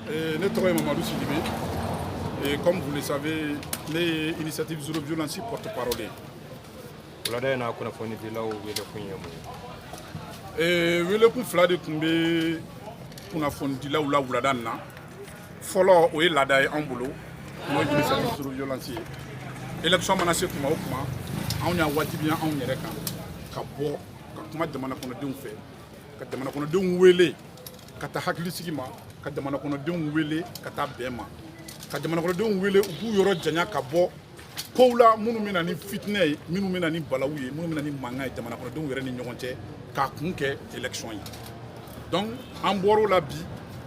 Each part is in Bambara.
Eh, ne tɔgɔ ye mamadu sidibe eh, comme vous le savez ne ye initiative zéro violence porte parole ye wulada in na kunnafonidilaw welekun ye mun ye eh, welekun fila de tun bɛ kunnafonidilaw la wulada in na fɔlɔ o ye laada ye anw bolo n'o ye initiative zéro violence ye élection mana se tuma o tuma anw y'a wajibiya anw yɛrɛ kan ka bɔ ka kuma jamana kɔnɔdenw fɛ ka jamana kɔnɔdenw wele ka taa hakilisigi ma ka jamana kɔnɔdenw wele ka taa bɛn ma ka jamana kɔnɔdenw wele u k'u yɔrɔ janya ka bɔ kow la minnu bɛ na ni fitinɛ ye minnu bɛ na ni balawu ye minnu bɛ na ni mankan ye jamana kɔnɔdenw yɛrɛ ni ɲɔgɔn cɛ k'a kun kɛ élection ye donc an bɔr'o la bi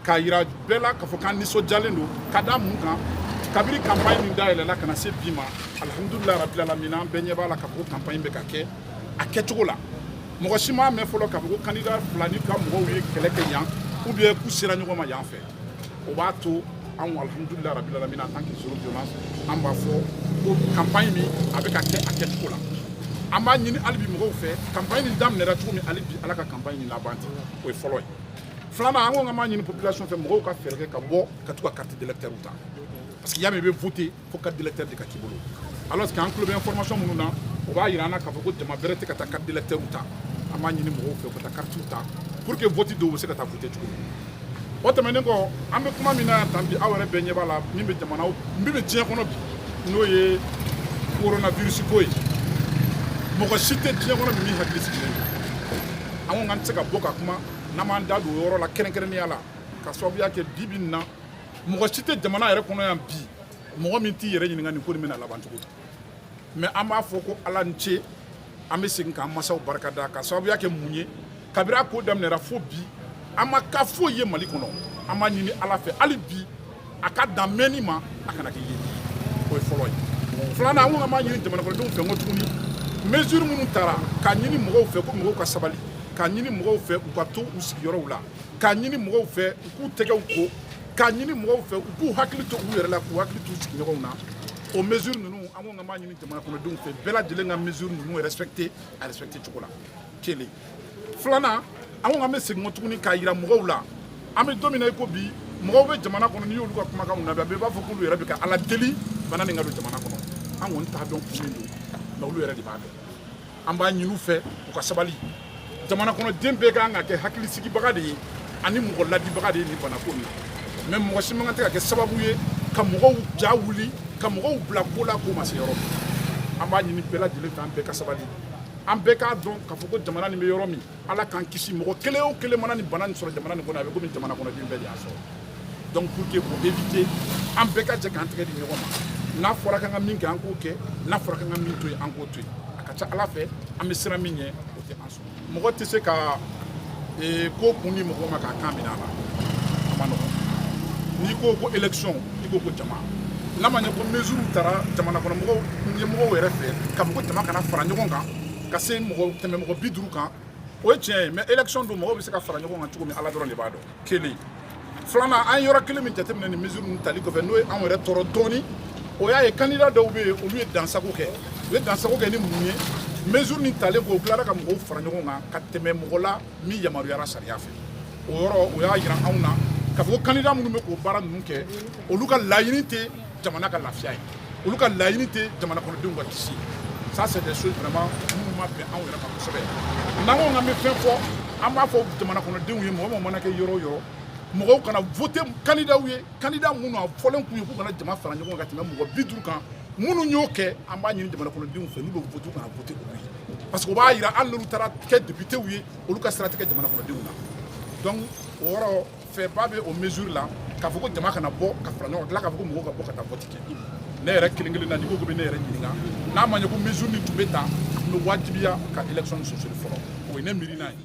k'a yira bɛɛ la k'a fɔ k'an nisɔndiyalen don ka da mun kan kabiri campagne min dayɛlɛla ka na se bi ma alihamudulilayi rabilalamina an bɛɛ ɲɛ b'a la k'a fɔ ko campagne bɛ ka kɛ a kɛcogo la mɔgɔ si m'a mɛn fɔlɔ k'a fɔ ko candidat fila ni ka mɔgɔw ye kɛlɛ kɛ yan ou bien k'u sera ɲɔgɔn ma yan fɛ o b'a to anw alhamdulila rabi lalamina en tant que zéro violence an b'a fɔ ko campagne min a bɛ ka kɛ a kɛcogo la an b'a ɲini hali bi mɔgɔw fɛ campagne nin daminɛra cogo min hali bi ala ka campagne nin laban ten o ye fɔlɔ ye filanan an ko k'an b'a ɲini population fɛ mɔgɔw ka fɛɛrɛ kɛ ka bɔ ka t'u ka carte d'électeur ta parce que y'a mɛn i bɛ voter fo carte d'électeur de ka k'i bolo alors que an tulo bɛ information minnu na o b'a yira an na k'a fɔ ko jama bɛrɛ tɛ ka taa carte d'électeur ta an b'a ɲini mɔgɔw fɛ u ka taa carte ta pour que vote don u bɛ se ka taa voter cogo min o tɛmɛnen kɔ an bɛ kuma min na yan tan bi aw yɛrɛ bɛɛ ɲɛ b'a la min bɛ jamana min bɛ diɲɛ kɔnɔ bi n'o ye coronavirus ko ye mɔgɔ si tɛ diɲɛ kɔnɔ bi min hakili sigilen don an ko k'an tɛ se ka bɔ ka kuma n'an m'an da don o yɔrɔ la kɛrɛnkɛrɛnnenya la k'a sababuya kɛ bi bi in na mɔgɔ si tɛ jamana yɛrɛ kɔnɔ yan bi mɔgɔ min t'i yɛrɛ ɲininka nin ko nin bɛna laban cogo di mais an b'a fɔ ko ala ni ce an bɛ segin k'an masaw barika da k'a sababuya kɛ mun ye kabiri a ko daminɛra fo bi an ma cas foyi ye mali kɔnɔ an b'a ɲini ala fɛ hali bi a ka dan mɛnni ma a kana kɛ yeli ye o ye fɔlɔ ye filanan an ko an b'a ɲini jamanakɔnɔdenw fɛ encore tuguni mesure minnu tara k'a ɲini mɔgɔw fɛ ko mɔgɔw ka sabali k'a ɲini mɔgɔw fɛ u ka to u sigiyɔrɔw la k'a ɲini mɔgɔw fɛ u k'u tɛgɛw ko k'a ɲini mɔgɔw fɛ u k'u hakili to u yɛrɛ la k'u hakili t'u sigiɲɔgɔnw na o mesure ninnu an ko k'an b'a ɲini jamana kɔnɔdenw fɛ bɛɛ lajɛlen ka mesure ninnu respecter a respecter cogo la kelen filanan an ko k'an bɛ segin kɔ tuguni k'a yira mɔgɔw la an bɛ don min na i ko bi mɔgɔw bɛ jamana kɔnɔ n'i y'olu ka kumakanw lamɛn a bɛɛ b'a fɔ k'olu yɛrɛ bɛ ka ala deli bana nin ka don jamana kɔnɔ an kɔni t'a dɔn kun min don nka olu yɛrɛ de b'a dɔn an b'a ɲini u fɛ u ka sabali jamana kɔnɔden bɛɛ ka kan ka kɛ hakilisigibaga de ye ani mɔgɔ ladibaga de ye nin banako in na mais mɔgɔ si man kan tɛ ka kɛ sababu ye ka mɔgɔw ja wuli ka mɔgɔw bila ko la k'o ma se yɔrɔ min an b'a ɲini bɛɛ lajɛlen fɛ an bɛɛ ka sabali an bɛɛ k'a dɔn k'a fɔ ko jamana nin bɛ yɔrɔ min ala k'an kisi mɔgɔ kelen o kelen mana nin bana nin sɔrɔ jamana nin kɔnɔ a bɛ komi jamana kɔnɔden bɛɛ de y'a sɔrɔ donc pour que k'o éviter an bɛɛ ka jɛ k'an tɛgɛ di ɲɔgɔn ma n'a fɔra k'an ka min kɛ an k'o kɛ n'a fɔra k'an ka min to yen an k'o to yen a ka ca ala fɛ an bɛ siran min ɲɛ o tɛ an sɔrɔ mɔgɔ tɛ se ka ee, ko kun di mɔgɔ ma k'a kan minɛ a la a ma nɔgɔn n'i ko ko élection i ko ko jama n'a ma ɲɛ ko mesure tara jamana kɔnɔ mɔgɔw ɲɛmɔgɔw yɛrɛ fɛ k'a fɔ ko jama kana fara ɲɔgɔn kan ka se tɛmɛ mɔgɔ bi duuru kan o ye tiɲɛ ye mais élection don mɔgɔw bɛ se ka fara ɲɔgɔn kan cogo min ala dɔrɔn de b'a dɔn kelen filanan an ye yɔrɔ kelen min jateminɛ nin mesure ninnu tali kɔfɛ n'o ye anw yɛrɛ tɔɔrɔ dɔɔni o y'a ye kandida dɔw bɛ yen olu ye dansago kɛ u ye dansago kɛ ni mun ye mesure nin talen kɔ u tilara ka mɔgɔw fara ɲɔgɔn kan ka tɛmɛ mɔgɔ la min yamaruyara sariya fɛ o yɔrɔ o y'a yira anw na k'a fɔ ko kandida minnu bɛ k'o baara ninnu kɛ olu ka laɲini tɛ jamana ka lafiya ye olu ka laɲini tɛ jamana kɔnɔdenw ka kisi ça c'est des choses vraiment minnu ma bɛn anw yɛrɛ ma kosɛbɛ n'an ko k'an bɛ fɛn fɔ an b'a fɔ jamana kɔnɔdenw ye mɔgɔ mɔgɔ mana kɛ yɔrɔ o yɔrɔ mɔgɔw kana voter kandidaw ye kandida minnu a fɔlen tun ye k'u kana jama fara ɲɔgɔn kan ka tɛmɛ mɔgɔ bi duuru kan minnu y'o kɛ an b'a ɲini jamana kɔnɔdenw fɛ n'u bɛ voter kana voter olu ye parce que o b'a yira hali n'olu taara kɛ depitew ye olu ka sira tɛ kɛ jamana kɔnɔdenw na donc o yɔrɔ fɛba bɛ o mesure la k'a fɔ ko jama kana bɔ ka fara ɲɔgɔn tila k'a fɔ ko mɔgɔw ka bɔ ka taa vote kɛ ne yɛrɛ kelen kelen na n'i ko k'i bɛ ne yɛrɛ ɲininka n'a ma ɲɛ ko mesure min tun bɛ ta n bɛ wajibiya ka élection surseoir fɔlɔ o ye ne miirina ye